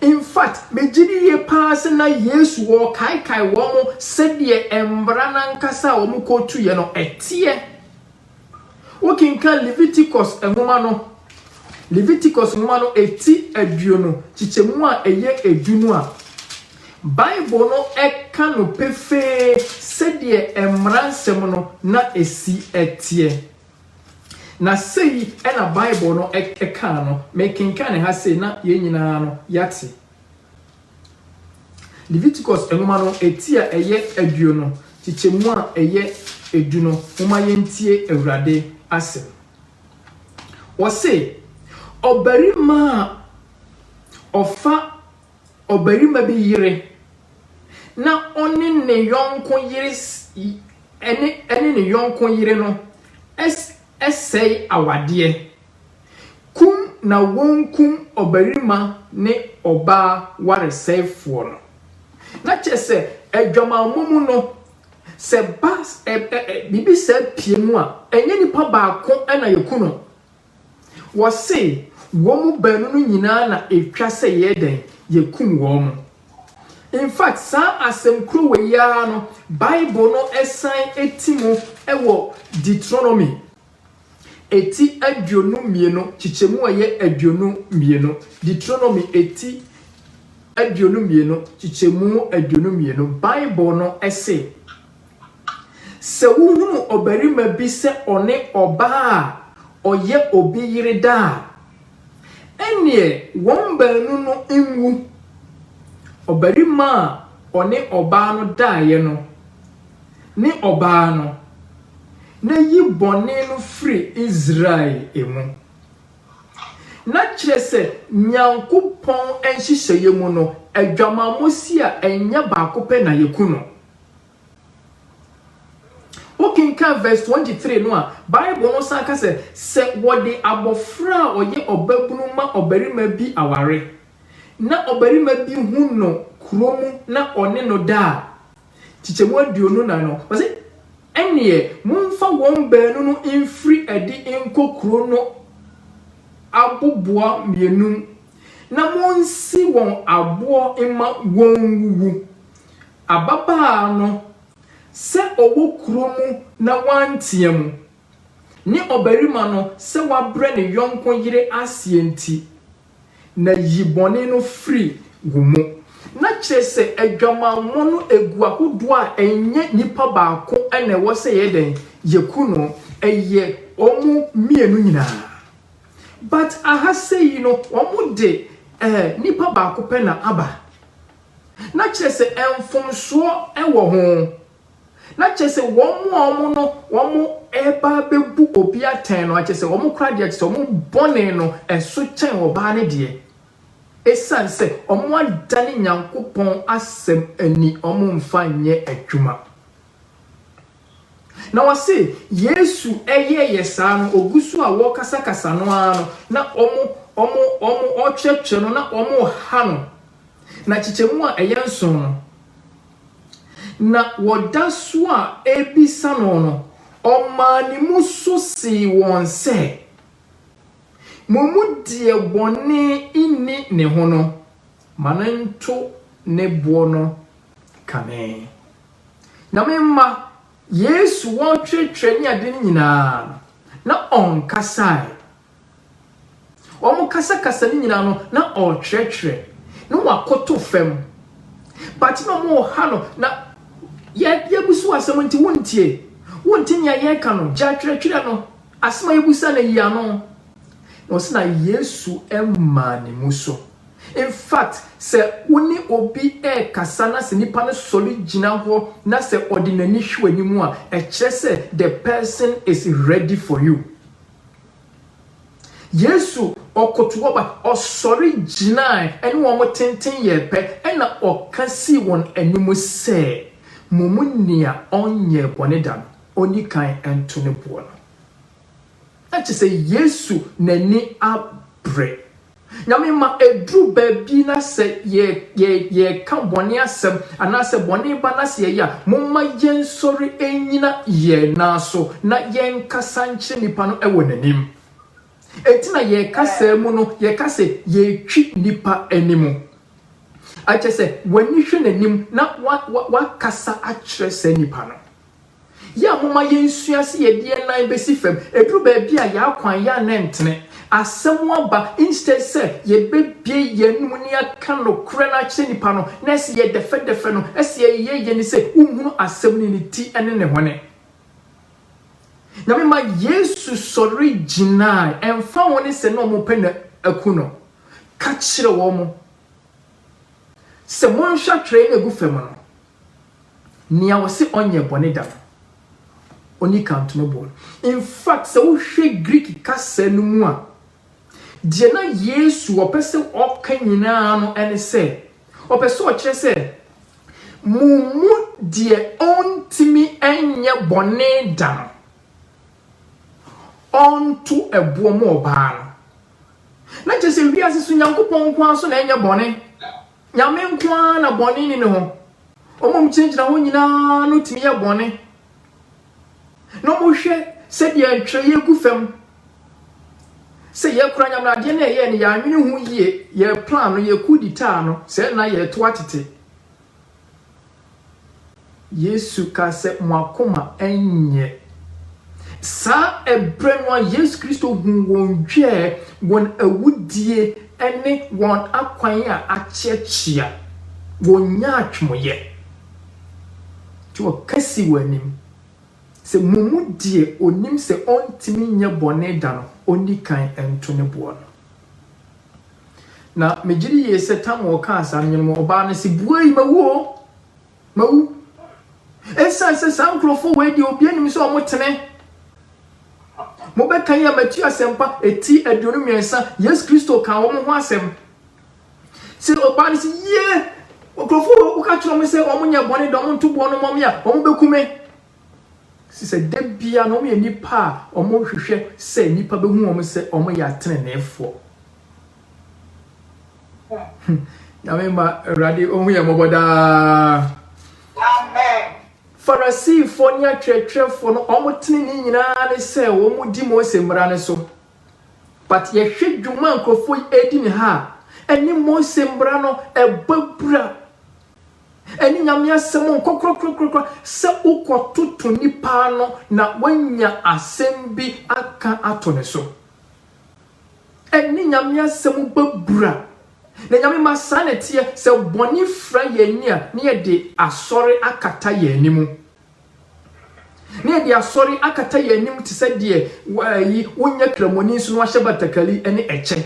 In fact, megye di yie paa sɛ na Yesu wɔrekaekae wɔn sɛdeɛ mmara no ankasa a wɔkɔtuiɛ no ɛteɛ. Wokenkan Leviticus nwoma no, Leviticus nwoma no ti aduonu, kyekyɛmu a ɛyɛ edu no a, Bible no ka no pefee sɛdeɛ mmara nsɛm no na ɛsi teɛ. Na sei na Bible no kaa no, mekenkan ha sei na yɛn nyinaa no yɛate. Leviticus nwoma no ti a ɛyɛ aduonu kyekyɛ mu a ɛyɛ edu no, momma yɛntie Awurade asɛm. Ɔse, Ɔbarima a ɔfa ɔbarima bi yere na ɔne ne yɔnko yere ɛne ɛne ne yɔnko yere no sɛe awadeɛ. Kum na wonkum ɔbarima ne ɔbaa waresɛefoɔ no. Na kyerɛ sɛ, adwamammɔ mu no, sɛ ba ɛ ɛ ɛ biribi saa pue mu a, ɛnyɛ nipa baako na yɛku no. Wɔse, wɔn baanu no nyinaa na ɛtwa sɛ yɛyɛ dɛn? Yɛkum wɔn. In fact, saa asɛm korɔ wei ara no, Bible no san ti mu wɔ Deuteronomy Eti aduonu mmienu, kyekyɛmu a ɛyɛ aduonu mmienu, Deuteronomy eti aduonu mmienu, kyekyɛmu aduonu mmienu, Bible no se, Sɛ wohunu ɔbarima bi sɛ ɔne ɔbaa a ɔyɛ obi yere da a, ɛnneɛ wɔn baanu no nwu. Ɔbarima a ɔne ɔbaa no daeɛ no, ne ɔbaa no, na yi bɔne no firi Israel mu. Na kyerɛ sɛ, Nyankopɔn nhyehyɛeɛ mu no, adwamammɔ si a, ɛnyɛ baako pɛ na yɛku no. Wo kenkan verse 23 no a, Bible no san ka sɛ, sɛ wɔde abɔfra a ɔyɛ ɔbabunu ma ɔbarima bi aware, na ɔbarima bi hu no kuro mu na ɔne no da a, Nkyekyɛmu aduonu nnan no, ɔse, Ɛneɛ momfa wɔn baanu no mfiri adi nkɔ kuro no aboboa mmienu mu, na monsi wɔn aboɔ mma wɔnwuwu. Ababaa no, sɛ ɔwɔ kuro mu na wantea mu, ne ɔbarima no, sɛ wabrɛ ne yɔnko yere aseɛ nti, na yi bɔne no firi wo mu. Na kyerɛ sɛ adwamammɔ no gu ahodoɔ a ɛnyɛ nipa baako na ɛwɔ sɛ yɛyɛ dɛn, yɛku no, ɛyɛ wɔn mmienu nyinaa. But aha sei no wɔn de eh, nipa baako pɛ na aba. Na kyerɛ sɛ mfomsoɔ wɔ ho. Na kyerɛ sɛ wɔn a wɔn no wɔn reba abɛbu obi atɛn no, kyerɛ sɛ wɔn kora deɛ kyerɛ sɛ wɔn bɔne no ɛso kyɛn ɔbaa no deɛ. Ɛsiane sɛ wɔn adane Nyankopɔn asɛm ani wɔn mfa nyɛ adwuma. Na wɔse Yesu ɛyɛɛ yɛ saa no, ɔgu so a wɔrekasakasa no ara no, na wɔn, wɔn, wɔn, wɔrekyerɛkyerɛ no, na wɔreha no. Na kyekyɛmu a ɛyɛ nson no, Na wɔda so a ɛrebisa no no, ɔmaa ne mu so see wɔn sɛ, Mo mu deɛ bɔne nni ne ho no, ma no nto ne boɔ no kane. Na me mma, Yesu wɔretwerɛtwerɛ ne ade no nyinaa no, na ɔnkasaeɛ. Wɔkasakasa no nyinaa no na ɔrekyerɛkyerɛ na wakoto fam. But na wɔwɔ ha no na yɛabusu asɛm nti wontie. Wonte nea yɛreka no, gya twerɛtwerɛ no, asɛm a yɛbisa no yi ano. Na ɔse na Yesu mmaa ne mu so. In fact, sɛ wo ne obi rekasa na sɛ nipa no sɔre gyina hɔ na sɛ ɔde n'ani hwɛ w'anim a, ɛkyerɛ sɛ the person is ready for you. Yesu ɔkotow aba, ɔsɔre gyinae, ɛne wɔn tenten yɛɛ pɛ, ɛnna ɔka sii wɔn anim sɛ, Mo mu nea ɔnyɛɛ bɔne da no, onni kan nto ne boɔ no. Na kyerɛ sɛ Yesu n'ani abere. Nyame ma ɛduru baabi na sɛ yɛreka bɔne asɛm anaasɛ bɔne ba na sɛ yɛyɛ a, momma yɛnsɔre nnyina yɛn nan so na yɛnkasa nkyerɛ nnipa no wɔ n'anim. Enti na yɛkasa mu no, yɛka sɛ yɛretwi nnipa anim. Ɛkyɛ sɛ w'ani hwɛ n'anim na wakasa akyerɛ saa nnipa no. Yɛ a momma yɛnsua sɛ yɛde yɛn nan bɛsi fam ɛduru baabi a yɛn akwan yɛ a na ɛntene. Asɛm aba instead sɛ yɛbɛbue yɛn anom na yɛaka nokorɛ no akyerɛ nnipa no na ɛsɛ yɛdɛfɛdɛfɛ no, ɛsɛ yɛyɛ yɛni sɛ wonhunu asɛm no ne ti ne ne hwane. Nyame ma Yesu sɔre gyinae ɛmfa ho ne sɛ na wɔpɛ no aku no, ka kyerɛ wɔn sɛ monhwɛ atwerɛeɛ no a ɛgu fam no. Nea wɔse ɔnyɛɛ bɔne da no, onni kan to no bo no. In fact, sɛ wohwɛ Greek kasa no mu a, deɛ na Yesu ɔpɛ sɛ ɔka nyinaa no ne sɛ, ɔpɛ sɛ ɔkyerɛ sɛ, Mo mu deɛ ɔntumi nyɛ bɔne da no, ɔnto ɛboɔ ma ɔbaa no. Na kyerɛ sɛ, wiase so Nyankopɔn nko ara so na ɛnyɛ bɔne. Nyame nko ara na bɔne nni ne ho. Wɔn a wɔgyinagyina hɔ nyinaa no tumi yɛ bɔne, na wɔhwɛ sɛdeɛ ntwerɛeɛ gu fam sɛ yɛkora Nyame no adeɛ no ɛyɛ no yɛanwene ho yie, yɛplan no, yɛku ditaa no, sɛ na yɛtoa tete. Yesu kaa sɛ, Mo akoma nyɛ. Saa ɛberɛ no a Yesu Kristo huu wɔn dwɛɛ, wɔn awudie ne wɔn akwan a akyeakyea, wɔnyaa atwemoyɛ. Nti ɔka sii wɔn anim sɛ, Mo mu deɛ ɔnim sɛ ɔntumi nyɛ bɔne da no, ɔnni kan nto ne boɔ no. Na megye di yie sɛ tam a ɔkaa saa no nyɛ no ma ɔbaa no se, Bua yi, mawu oo! Mawu! Ɛsiane sɛ saa nkurɔfoɔ wei deɛ obiara nim sɛ wɔtene. Mobɛka yi a Matthew asɛmpa ɛti aduonu mmiɛnsa, Yesu Kristo kaa wɔn ho asɛm. Sɛ ɔbaa no se, Yie! Nkurɔfoɔ wei woka kyerɛ wɔn sɛ wɔnyɛ bɔne da wɔnto boɔ no mmɔ me a, wɔbɛku me. Sɛ da biara no wɔyɛ nnipa a wɔhwehwɛ sɛ nnipa bɛhu wɔn sɛ wɔyɛ ateneneefoɔ. Nyame mma Awurade ɔhu yɛn mmɔbɔ daa. Farisifoɔ ne atwerɛtwerɛfoɔ no wɔn tenenee nyinaa ne sɛ wɔn di Mose mmara no so. But yɛhwɛ dwuma nkurɔfoɔ yi ɛredi ne ha a, ɛne Mose mmara no ɛbɔ abura. Ɛne Nyame asɛm nkɔ korakorakora sɛ wokɔtoto nipa ano na woanya asɛm bi aka ato ne so. Ɛne Nyame asɛm bɔ abira. Na Nyame ma saa na ɛteɛ, sɛ bɔne fira yɛn ani a, na yɛde asɔre akata yɛn anim. Na yɛde asɔre akata yɛn anim te sɛ deɛ ayi, wonyɛ kramoni nso na wahyɛ batakari ne ɛkyɛ.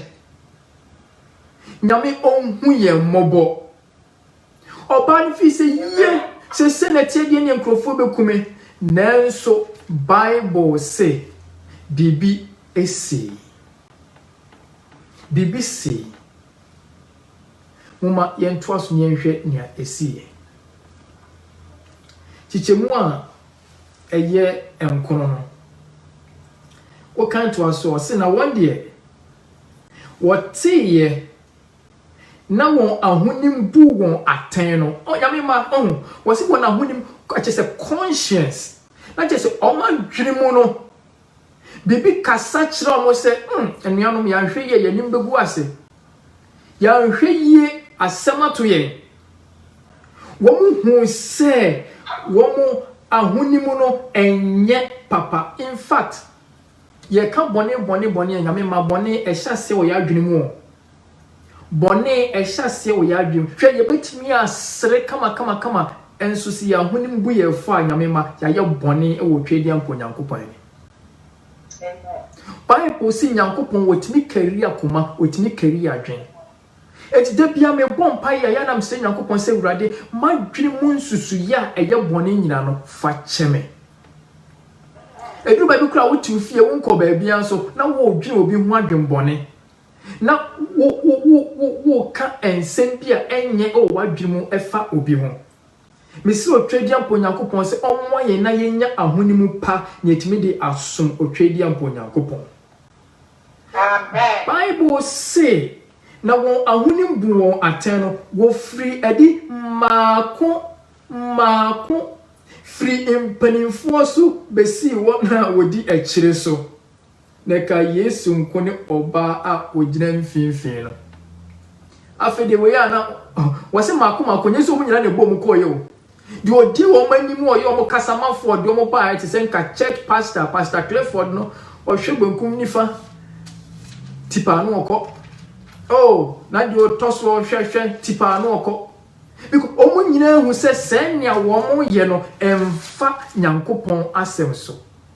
Nyame ɔnhu yɛn mmɔbɔ. Ɔbaa no fii sɛ, Yiw, seesei na ɛte deɛ ne nkurɔfoɔ bɛku me. Nanso Bible se biribi sii. Biribi sii. Momma yɛntoa so na yɛnhwɛ nea ɛsiiɛ. Kyekyɛmu a ɛyɛ nkono no, wokan toa so a, ɔse na wɔn deɛ wɔteeɛ na wɔn ahonim bu wɔn atɛn no, Onyame mma, ɔho, wɔse wɔn ahonim, kyerɛ sɛ conscience, na kyerɛ sɛ wɔn adwene mu no, biribi kasa kyerɛ wɔn sɛ, hmm, anuanom, yɛanhwɛ yie, yɛanim bɛgu ase. Yɛanhwɛ yie, asɛm ato yɛn. Wɔn hu sɛ wɔn ahonim no ɛnyɛ papa. In fact, Yɛka bɔne bɔne bɔne a, Nyame mma bɔne ɛhyɛ aseɛ wɔ yɛn adwene mu o. Bɔne ɛhyɛ aseɛ wɔ yɛn adwene mu. Hwɛ yɛbɛtumi asere kama kama kama nso sɛ yɛn ahonim bu yɛn fɔ a, Nyame mma yɛayɛ bɔne wɔ Tweadia mpo Nyankopɔn anim. Bible se Nyankopɔn ɔtumi kari akoma, ɔtumi kari adwene. Enti da biara mebɔ mpaeɛ a, ɛyɛ a na mesrɛ Nyankopɔn sɛ, Awurade, m'adwene mu nsusuiɛ a ɛyɛ bɔne nyinaa no, fa kyɛ me. Ɛduru baabi koraa a, wote wo fie, wonkɔ baabiara nso, na woredwene obi ho adwemmɔne, na woreka nsɛm bi a ɛnyɛ wɔ w'adwene mu fa obi ho. Mese Otwedeɛmpa Onyankopɔn sɛ ɔmmoa yɛn na yɛnya ahonim pa na yɛatumi de asom Otwedeɛmpa Onyankopɔn. Bible se, Na wɔn ahonim bu wɔn atɛn no, wɔfiri adi mmaako mmaako, firi mpanimfoɔ so bɛsii wɔn a wɔdi akyire so. Na ɛka Yesu nko ne ɔbaa a ɔgyina mfinfini no. Afei deɛ wei a na wɔse mako mako, nyɛ sɛ wɔn nyinaa na ɛbɔɔ mu kɔeɛ o. Deɛ ɔdi wɔn anim a ɔyɛ wɔn kasamafoɔ de wɔn baeɛ te sɛ nka church pastor, Pastor Clifford no, ɔhwɛ benkum nifa tipaa no ɔkɔ. Oh, na deɛ ɔtɔ so ɔhwɛ hwɛ tipaa no ɔkɔ. Because wɔn nyinaa hu sɛ sɛnea wɔyɛ no ɛmfa Nyankopɔn asɛm so.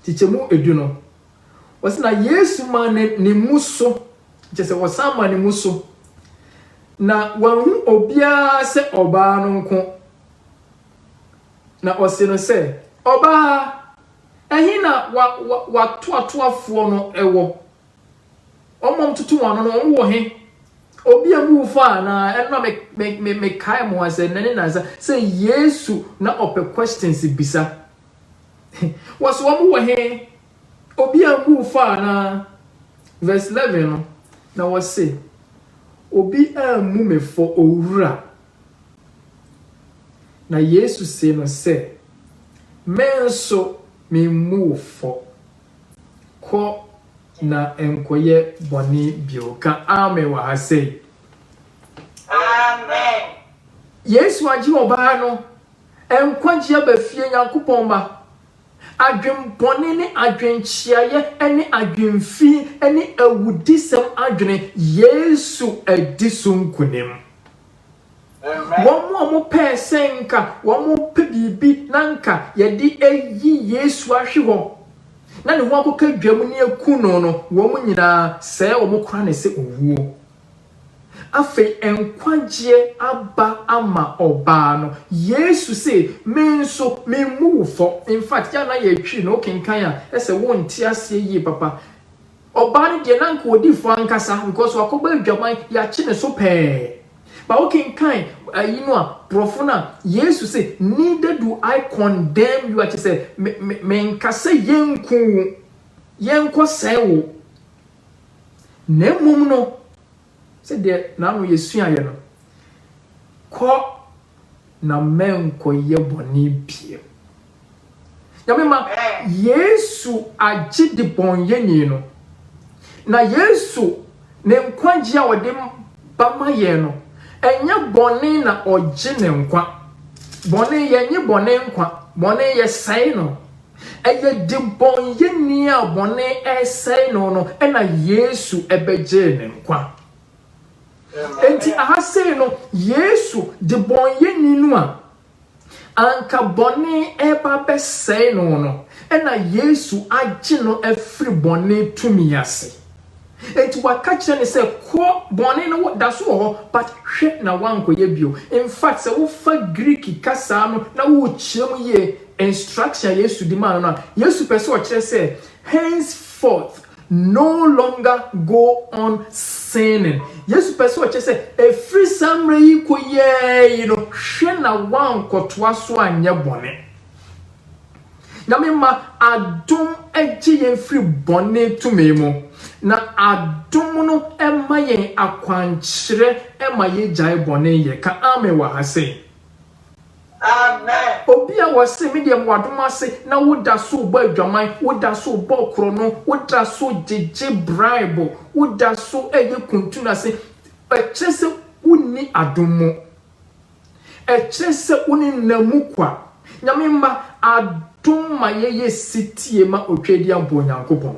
Nkyekyɛmu edu no, wɔse na Yesu maa ne ne mmu so, kyerɛ sɛ wɔsan maa ne mmu so, na wɔanhu obiara sɛ ɔbaa no nko. Na ɔse no sɛ, Ɔbaa, ɛhe na w'atoatoafoɔ no wɔ? Wɔn mom tutu wɔn ano no, wɔn wɔ he? Obi a mu fa anaa? Ɛno na me me me me kae mo asɛ nane nansa sɛ Yesu na ɔpɛ questions bisa. Wɔsi wɔn wɔ he? Obi a mu fa anaa? Verse 11 no na wɔsi obi a mu me fɔ owura. Na Yesu se no sɛ me nso me mu wo fɔ. Kɔ na nkɔyɛ bɔne bio. Ka amen wɔ ha sei. Amen. Yesu agye ɔbaa no nkwagye aba fie, Nyankopɔn mma. Adwenbɔne ne adwenkyeayɛ ne adwenfi ne awudisɛm adwene, Yesu adi so nkunim. Wɔn a wɔpɛɛ sɛ anka wɔpɛ biribi na anka wɔde ayi Yesu ahwe hɔ, na ne ho akɔka dwam ne akum no no, wɔn nyinaa, sɛɛ wɔn kora no sɛ owuo. Afei nkwagyeɛ aba ama ɔbaa no. Yesu se, Me nso, memmu wo fɔ. In fact, yɛ a na yɛretwiri no, wokenkan a, ɛsɛ wonte aseɛ yie papa. Ɔbaa no deɛ na anka ɔdi fɔ ankasa because wakɔbɔ adwaman, yɛakye ne so pɛɛ. But wokenkan ayi no a, borɔfo no a, Yesu se, neither do I condemn you a kyerɛ sɛ me, me, menka sɛ yɛnku wo, yɛnkɔsɛe wo. Na mmom no, Sɛdeɛ na ano yɛsuaeɛ no, Kɔ na mɛnkɔyɛ bɔne bio. Nyame ma Yesu agye debɔnyɛni no, na Yesu ne nkwagyeɛ a ɔde ba ma yɛn no, ɛnyɛ bɔne na ɔgye ne nkwa. Bɔne, yɛnnye bɔne nkwa, bɔne yɛsɛe no, Ɛyɛ debɔneyɛni a bɔne resɛe no no na Yesu bɛgyee ne nkwa. Enti aha sei no, Yesu, debɔneyɛni no a anka bɔne reba abɛsɛe no no, na Yesu agye no afiri bɔne tumi ase. Enti waka kyerɛ no sɛ, Kɔ, bɔne no da so wɔ hɔ, but hwɛ na woankɔyɛ bio. In fact, sɛ wofa Greek kasa no na wokyerɛ mu yie, instruction a Yesu de maa no no a, Yesu pɛ sɛ ɔkyerɛ sɛ, Henceforth, no longer go on sinning. Yesu pɛ sɛ ɔkyerɛ sɛ, ɛfiri saa mmerɛ yi kɔ yiae no, hwɛ na woankɔtoa so anyɛ bɔne. Nyame ma adom gye yɛn firi bɔne tumi mu, na adom no ma yɛn akwankyerɛ ma yɛgyae bɔne yɛ. Ka amen wɔ ha sei. Amen. Obi a ɔse me deɛ moadom ase na wo da so rebɔ adwaman, wo da so rebɔ korɔno, wo da so gyegye bribe, wo da so ɛyɛ kuntu nase, ɛkyerɛ sɛ wo nni adom mu. Ɛkyerɛ sɛ wo ne nna mu kwa. Nyame mma, adom ma yɛyɛ setie ma otwadi aboa Onyankopɔn.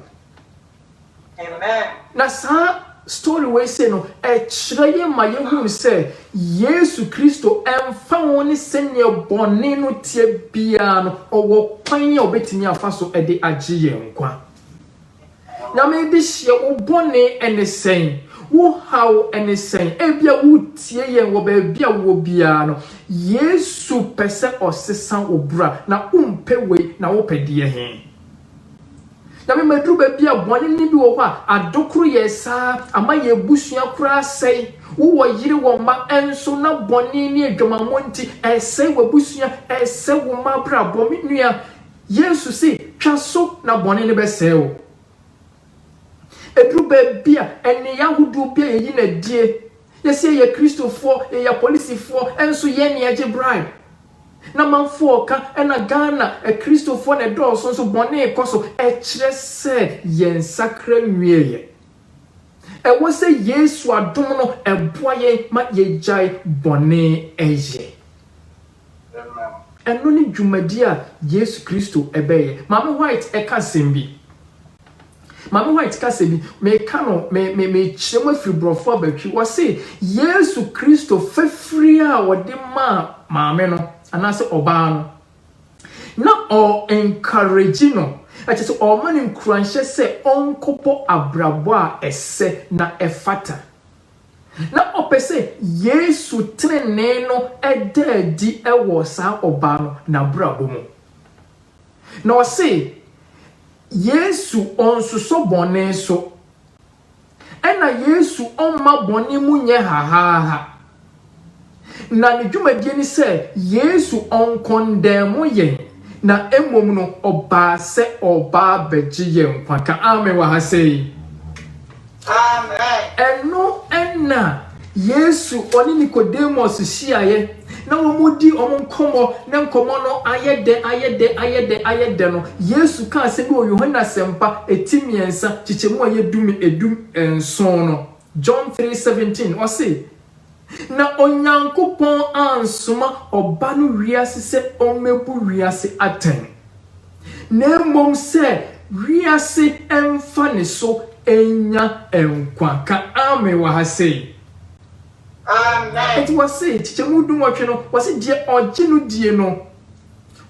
Na saa story wei sei no, ɛkyerɛ yɛ ma yɛhunu sɛ Yesu Kristo, ɛmfa ho ne sɛdeɛ bɔne no teɛ biara no, ɔwɔ kwan a ɔbɛtumi afa so de agye yɛn nkwa. Nyame de hyɛ wo bɔne ɛne sɛn? Wo haw ɛne sɛn? Ebia wo tie yɛn wɔ baabi a wowɔ biara no, Yesu pɛ sɛ ɔsesa wo bra, na wo mpɛ wei, na wo pɛ deɛ he? Nyame maduru baabi a bɔne ne bi wɔ hɔ a, adokoro yɛ saa, ama yɛ abusua koraa sɛe, wo wɔ yere wɔ mma, ɛnso na bɔne ne adwamammɔ nti, ɛsɛe w'abusua, ɛsɛ wo mma abrabɔ, me nua, Yesu se, Twa so na bɔne no bɛsɛe wo. Ɛduru baabi a, nneyɛɛ ahodoɔ bi a yɛyi no adie, yɛse yɛyɛ Kristofoɔ, yɛyɛ apolisifoɔ, nso yɛn na yɛgye bribe. Na manfoɔ ka, ɛna Ghana Akristofoɔ na ɛdɔɔso nso bɔne rekɔ so, ɛkyerɛ sɛ yɛn nsakra nwieeɛ. Ɛwɔ sɛ Yesu adom no ɛboa yɛn ma yɛgyae bɔne yɛ. ma no. Ɛno ne dwumadi a Yesu Kristo bɛyɛ. Maame White ka asɛm bi. Maame White ka asɛm bi. Meka no, me, me, mekyerɛ mu afiri borɔfo abatwi. Wɔse, Yesu Kristo fafiri a ɔde maa maame no, anaasɛ ɔbaa no, na ɔ encourage no, ɛkyɛ sɛ ɔma no nkuranhyɛ sɛ ɔnkɔbɔ abrabɔ a ɛsɛ na ɛfata. Ná ɔpɛ sɛ Yesu trenee no da adi wɔ saa ɔbaa no n'abrabɔ mu. Na ɔsee Yesu ɔnsosɔ bɔne so, ɛna Yesu ɔmma bɔne mu nyɛ hahaaha. Na ne dwumadie ne sɛ Yesu ɔnkɔndɛɛmo yɛn, na mmom no ɔbaa sɛ ɔreba abɛgye yɛn nkwa. Ka amen wɔ ha sei. Amen. Ɛno na Yesu ɔne Nicodemus hyiaeɛ na wɔdi wɔn nkɔmmɔ na nkɔmmɔ no ayɛ dɛ ayɛ dɛ ayɛ dɛ ayɛ dɛ no Yesu ka asɛm bi wɔ Yohane Asɛmpa eti mmiɛnsa kyekyɛmu a ɛyɛ du du nson no John three seventeen, ɔse, Na Onyankopɔn ansoma Ɔba no wiase sɛ ɔmmɛbu wiase atɛn, na mmom sɛ wiase mfa ne so nnya nkwa. Ka Amen wɔ ha sei. Amen. Enti wɔse, kyekyɛmu dunwɔtwe no, wɔse, Deɛ ɔgye no die no,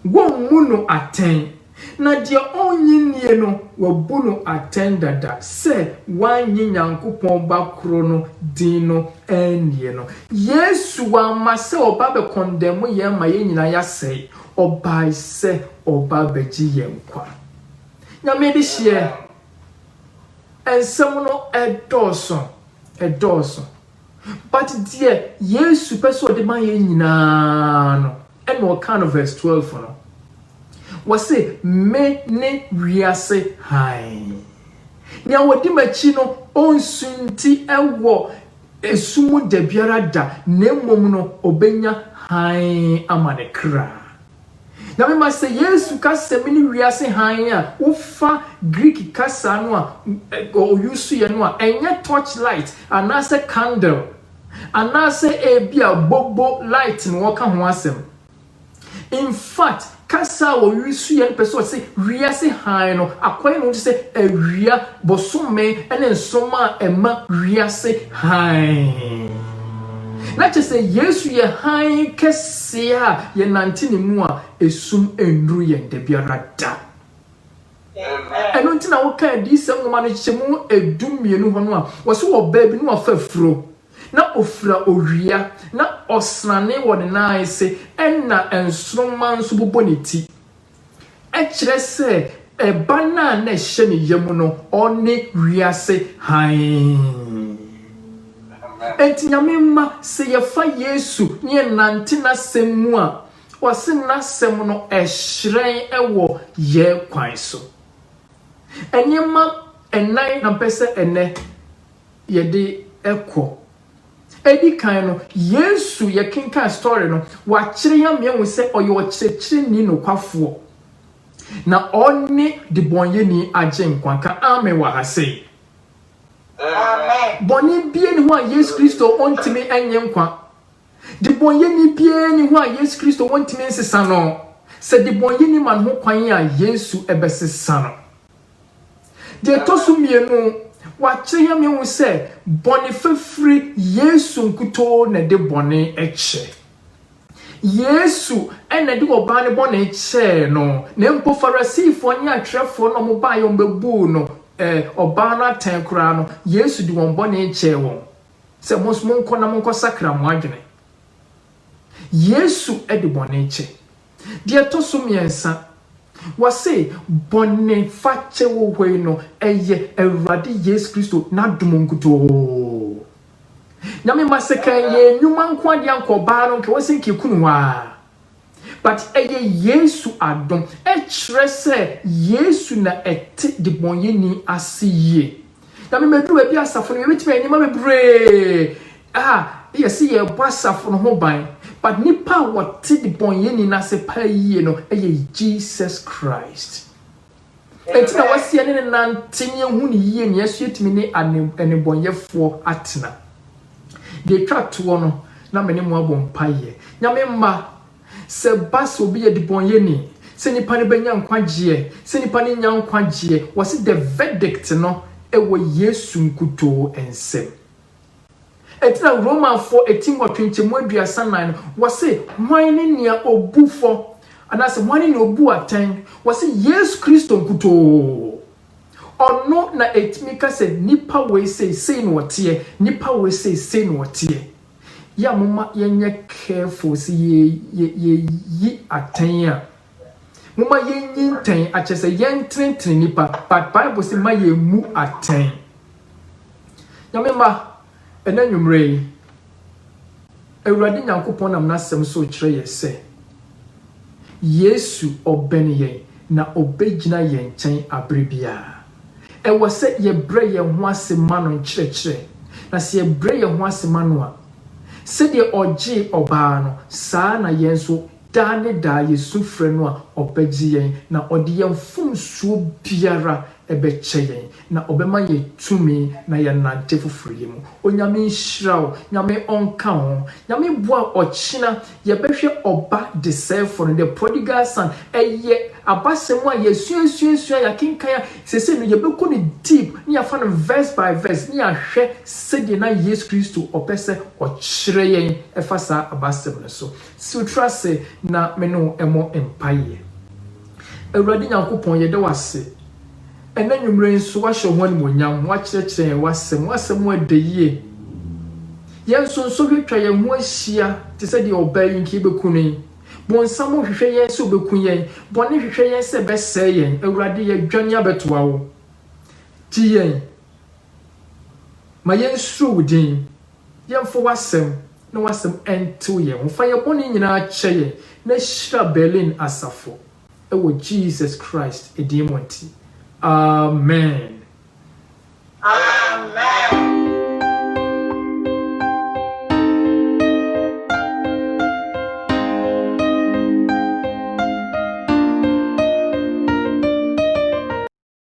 wɔmmu no atɛn. Na deɛ ɔnnye nnie no, wɔabu no atɛn dada sɛ wannye Nyankopɔn Ba korɔ no din no annie no. Yesu wamma sɛ ɔba bɛkɔndɛmo yɛn ma yɛn nyinaa yɛasɛe, ɔbae sɛ ɔba bɛgye yɛn nkwa. Nyame dehyeɛ nsɛm no ɛdɔɔso, ɛdɔɔso. But deɛ Yesu pɛ sɛ ɔde ma yɛn nyinaa no, ɛna ɔkaa no verse twelve no. Ɔse, Me ne wiase hann. Nea ɔdi m'akyi no, ɔnsunti wɔ ɛsu mu dabiara da, na mmom no, ɔbɛnya hann ama ne kra. Na mema sɛ Yesu ka sɛ mene wiase hann a, wofa Greek kasa no a ɔyusuiɛ no a, ɛnyɛ torch light anaasɛ candle anaasɛ ebia bobo light na ɔka ho asɛm. In fact, kasa a ɔyusuiɛ no pɛ sɛ ɔse wiase hann no akɔyɛ ne ho te sɛ awia, bosome ne nsoroma a ɛma wiase hann. Na kyerɛ sɛ Yesu yɛ hann kɛse. Se yɛ a yɛnante Ne mu a, esum nnuru yɛn dabiara da. Eno nti na woka Adiyisem nwoma no kyekyɛmu du mmienu hɔ no a, wɔse wɔ ɔbaa bi no wafa afuro, na ofira owia, na ɔsrane wɔ ne nan ase, ɛna nsoromma nso bobɔ ne ti. Ɛkyerɛ sɛ ɛba no a na ɛhyɛ ne yam no, ɔne wiase hann. Enti Nyame mma, sɛ yɛfa Yesu na yɛnante N'asɛm mu a, ɔse N'asɛm no ɛhyerɛn wɔ yɛn kwan so. Nneɛma nnan na mpɛ sɛ ɛnnɛ yɛde kɔ Edi kan no, Yesu, yɛkenkan story no, wɔakyerɛ yɛn ama yɛahu sɛ ɔyɛ ɔkyerɛkyerɛni nokwafoɔ, na ɔne debɔnyɛni agyenkwa. Ka amen wɔ ha sei. Bɔne biara nni hɔ a Yesu Kristo ɔntumi nye nkwa. Debɔnyɛni biara nni hɔ a Yesu Kristo ɔntumi nsesa no. Sɛ debɔnyɛni ma ne ho kwan a, Yesu bɛsesa no. Deɛ ɛtɔ so mmienu, wɔakyerɛ yɛn ma yɛhu sɛ bɔne fafiri, Yesu nkutoo na ɛde bɔne kyɛ. Yesu na ɛde ɔbaa no bɔne kyɛɛ no, na mpo Farisifoɔ ne atwerɛfoɔ no a wɔbaeɛ a wɔbɛbuu no eh, ɔbaa no atɛn koraa no, Yesu de wɔn bɔne kyɛɛ wɔn sɛ mo nso monkɔ na monkɔsakra mo adwene. Yesu de bɔne kyɛ. Deɛ ɛtɔ so mmiɛnsa, wɔse bɔne fakyɛ wɔ hɔ yi no, ɛyɛ Awurade Yesu Kristo n'adom nkutoo. Nyame mma sɛ ka ɛyɛ nnwuma nko adeɛ anka ɔbaa no nka wɔse nka ekunu hɔ ara. But ɛyɛ Yesu adom, ɛkyerɛ sɛ Yesu na ɛte debɔnyɛni ase yie. Na me mɛduru baabi asafo no yɛbɛtumi ayɛ nneɛma bebree a yɛ se yɛbɔ asafo no ho ban but nipa a wɔte de bɔn yɛ ni nase paa yie no yɛ Jesus Christ ɛnti na wɔse yɛne ne nante ne yɛhu ne yie ne yɛso yɛtumi ne anebɔnyɛfoɔ atena deɛ twa toɔ no na me ne mo abɔ mpa yɛ nyame mma Sɛ ɛba sɛ obi yɛ debɔnyɛni, sɛ nipa no bɛnya nkwagyeɛ, sɛ nipa no nnya nkwagyeɛ, wɔse the verdict no wɔ Yesu nkutoo nsam. Ɛnti na Romanfoɔ ɛti nwɔtwe nkyɛmu aduasa nnan no, wɔse hwan ne nea ɔbu fɔ, anaasɛ hwan ne nea ɔbu atɛn, wɔse Yesu Kristo nkutoo. Ɔno na ɛtumi ka sɛ nipa wei sei, sei na ɔteɛ, nipa wei sei, sei na ɔteɛ. Yɛ momma yɛnyɛ careful sɛ yɛyi atɛn a, momma yɛnyi ntɛn akyɛ sɛ yɛntenetene nipa, but Bible se ma yɛmmu atɛn. Nyame mma, ɛnɛ nwummerɛ yi, Awurade Nyankopɔn nam n'asɛm so rekyerɛ yɛ sɛ, Yesu, ɔbɛn yɛn na obegyina yɛn nkyɛn bere biara. Ɛwɔ sɛ yɛbrɛ yɛn ho ase ma no nkyerɛkyerɛ, na sɛ yɛbrɛ yɛn ho ase ma no a, sɛdeɛ ɔgyee ɔbaa no, saa ara na yɛn nso, daa ne daa yesu frɛ no a, ɔbɛgye yɛn na ɔde yɛn mfomsoɔ biara ɛbɛkyɛ yɛn na ɔbɛma yɛn tumi na yɛanante foforo yɛ mu. Onyame nhyira wo. Nyame ɔnka wo ho. Nyame boa wo ɔkyena yɛbɛhwɛ ɔba desɛefo no, the prodigal son. Ɛyɛ abasɛm a yɛasuasuasua, yɛakenkan a, sesei no yɛbɛkɔ no deep na yɛafa no verse by verse na yɛahwɛ sɛdeɛ na Yesu Kristo ɔpɛ sɛ ɔkyerɛ yɛn ɛfa saa abasɛm no so. Siw tiri ase na me ne wo mmɔ mpaeɛ. Awurade Nyankopɔn, yɛda wo ase ɛnnɛ anwummerɛ yi nso, woahyɛ wo ho animuonyam, woakyerɛkyerɛ yɛn w'asɛm, w'asɛm a ɛda yie. Yɛn nso nsɔhwɛ atwa yɛn ho ahyia te sɛ deɛ ɔbaa yi nka yɛbɛku no yi. Bonsam hwehwɛ yɛn sɛ ɔbɛku yɛn, bɔne hwehwɛ yɛn sɛ ɛbɛsɛe yɛn, Awurade yɛdwane abɛtoa wo. Gye yɛn. Ma yɛnsuro wo din, yɛmfa w'asɛm na w'asɛm ntew yɛn ho. Fa yɛn bɔne nyinaa kyɛ yɛn na hyira Berlin asafo wɔ Jesus Christ din mu nti, amen. Amen.